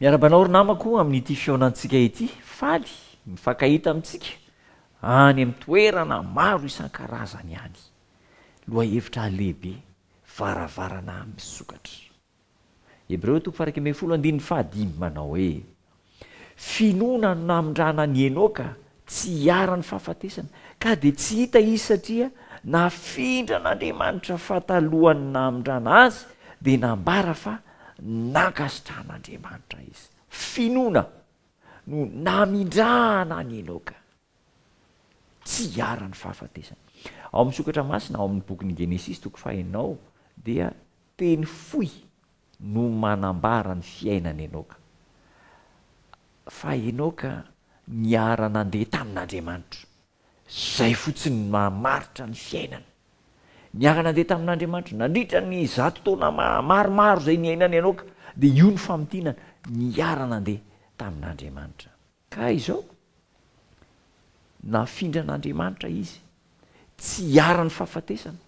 Miarahaba anao ry namako amin'ity fihaonantsika ity, faly mifankahita amintsika any amin'ny toerana maro isan-karazany any. Lohahevitra lehibe, varavarana amin'ny sokatra. Hebreo toko faha iraika ambin'ny folo andininy faha dimy manao hoe, Finoana no namindrana an'i Enoka Tsy hiharan'ny fahafatesana, ka dia tsy hita izy satria nafindra an'Andriamanitra fa talohan'ny namindrana azy dia nambara fa nankasitrahan'Andriamanitra izy. Finoana no namindrana an'i Enoka. Tsy hiharan'ny fahafatesana. Ao amin'ny sokatra masina ao amin'ny bokin'ny Genesisy toko faha enina ao dia teny fohy no manambara ny fiainan'i Enoka, fa Enoka niara-nandeha tamin'Andriamanitra. Izay fotsiny no mahamaritra ny fiainany. Niara-nandeha tamin'Andriamanitra nandritra ny zato taona maromaro izay niainan'i Enoka, dia io no famintinana, niara-nandeha tamin'Andriamanitra. Ka izao, nafindran'Andriamanitra izy, tsy hiharan'ny fahafatesana.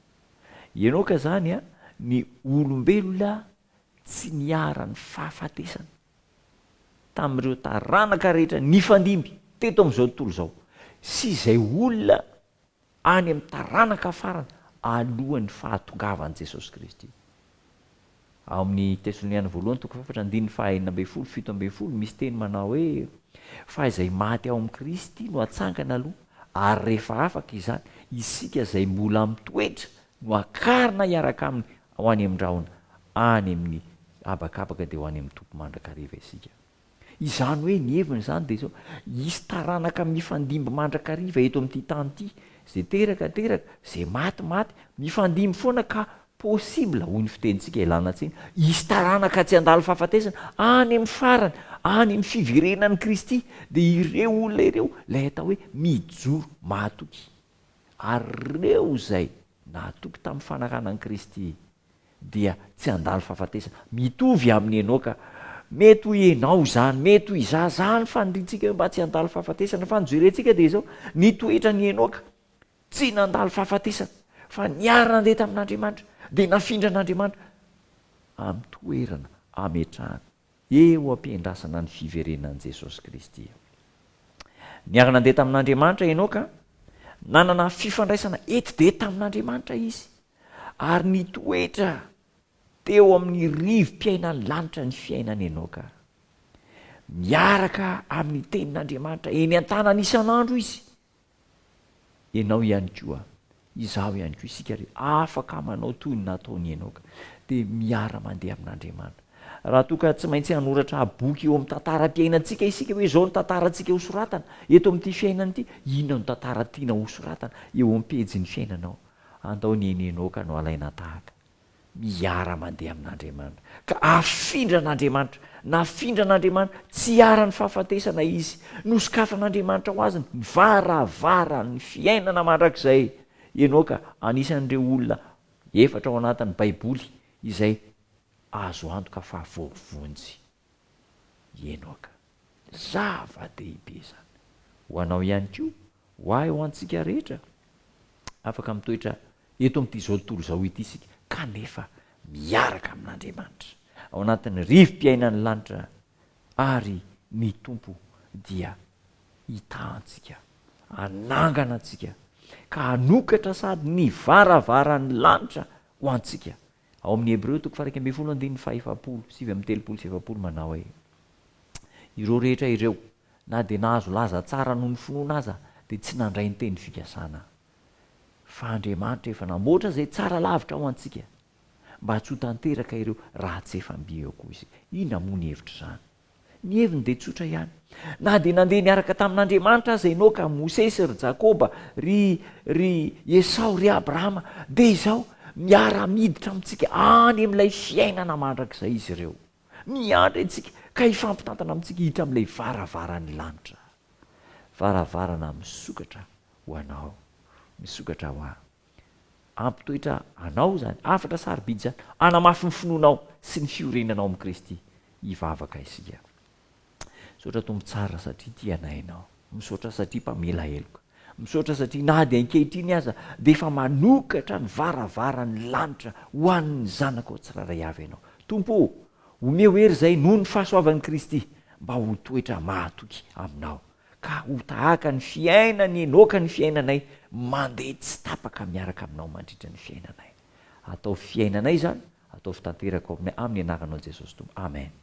Ianao ka izany an, ny olombelona tsy niharan'ny fahafatesana, tamin'ireo taranaka rehetra nifandimby teto amin'izao tontolo izao, sy izay olona any amin'ny taranaka farany alohan'ny fahatongavan'i Jesosy Kristy. Ao amin'ny Tesaloniana Voalohany toko fahefatra andininy fahaenina ambin'ny folo, fito ambin'ny folo, misy teny manao hoe, Fa izay maty ao amin'i Kristy no hatsangana aloha, ary rehefa afaka izany, isika izay mbola mitoetra no hakarina hiaraka aminy ho any amin-drahona any amin'ny habakabaka, dia ho any amin'ny Tompo mandrakariva isika. Izany hoe ny heviny izany dia izao, hisy taranaka mifandimby mandrakariva eto amin'ity tany ity, izay teraka teraka, izay maty maty, mifandimby foana ka possible, hoy ny fitenintsika ilana tsiny, hisy taranaka tsy handalo fahafatesana, any amin'ny farany, any amin'ny fiverenan'i Kristy, dia ireo olona ireo, ilay atao hoe mijoro mahatoky. Ary ireo izay nahatoky tamin'ny fanarahan'i Kristy, dia tsy handalo fahafatesana. Mitovy amin'i Enoka. Mety ho ianao izany, mety ho izaho izany faniriantsika hoe mba tsy handalo fahafatesana. Fa ny jerentsika dia izao, ny toetran'i Enoka, tsy nandalo fahafatesana, fa niara-nandeha tamin'Andriamanitra, dia nafindran'Andriamanitra amin'ny toerana ametrahany. Eo am-piandrasana ny fiverenan'i Jesosy Kristy. Niara-nandeha tamin'Andriamanitra i Enoka, nanana fifandraisana etsy dia etsy tamin'Andriamanitra izy, ary nitoetra teo amin'ny rivo-piainan'ny lanitra ny fiainan'i Enoka. Miaraka amin'ny Tenin'Andriamanitra eny an-tanany isan'andro izy, Ianao ihany koa, izaho ihany koa, isika rehetra afaka manao toy ny nataon'i Enoka, dia miara-mandeha amin'Andriamanitra. Raha toa ka tsy maintsy hanoratra boky eo amin'ny tantaram-piainantsika isika hoe izao ny tantarantsika hosoratana eto amin'ity fiainana ity, inona no tantara tianao hosoratana eo amin'ny pejin'ny fiainanao? Andao ny an'i Enoka no alaina tahaka. miara-mandeha amin'Andriamanitra, ka afindran'Andriamanitra, nafindran'Andriamanitra, tsy iharan'ny fahafatesana izy, nosokafan'Andriamanitra ho azy ny varavaran'ny fiainana mandrakizay. Enoka anisan'ireo olona efatra ao anatin'ny Baiboly izay azo antoka fa voavonjy. Enoka. Zava-dehibe izany. Ho anao ihany koa, ho ahy, ho antsika rehetra. Afaka mitoetra eto amin'it'izao tontolo izao ity isika, kanefa miaraka amin'Andriamanitra, ao anatin'ny rivo-piainan'ny lanitra, ary ny Tompo dia hitaha antsika, hanangana antsika, ka hanokatra sady ny varavaran'ny lanitra ho antsika, Ao amin'ny Hebreo toko faha iraika ambin'ny folo andininy faha efapolo, sivy amby telopolo sy efapolo manao hoe, Ireo rehetra ireo, na dia nahazo laza tsara noho ny finoana aza, dia tsy nandray ny teny fikasana. Fa Andriamanitra efa namboatra izay tsara lavitra ho antsika, mba tsy ho tanteraka ireo raha tsy efa mby eo koa isika. Inona moa ny hevitr'izany? Ny heviny dia tsotra ihany. Na dia nandeha niaraka tamin'Andriamanitra aza Enoka, ry Mosesy, ry Jakoba, ry, ry Esao, ry Abrahama, dia izao, miara-miditra amintsika any amin'ilay fiainana mandrakizay izy ireo. Miandry antsika, ka hifampitantana amintsika hiditra amin'ilay varavaran'ny lanitra. Varavarana misokatra ho anao, misokatra ho ahy. Ampy toetra anao izany. Hafatra sarobidy izany. Hanamafy ny finoanao sy ny fiorenanao amin'i Kristy. Hivavaka isika. Misaotra Tompo tsara satria tia anay Ianao. Misaotra satria mpamela heloka. Misaotra satria na dia ankehitriny aza dia efa manokatra ny varavaran'ny lanitra ho an'ny zanakao tsirairay avy Ianao. Tompo o! Omeo hery izay noho ny fahasoavan'i Kristy mba ho toetra mahatoky Aminao. ka ho tahaka ny fiainan'i Enoka ny fiainanay, mandeha tsy tapaka miaraka aminao mandritra ny fiainanay. Ataovy fiainanay izany, ataovy tanteraka ao aminay, amin'ny anaranao Jesosy Tompo. Amen.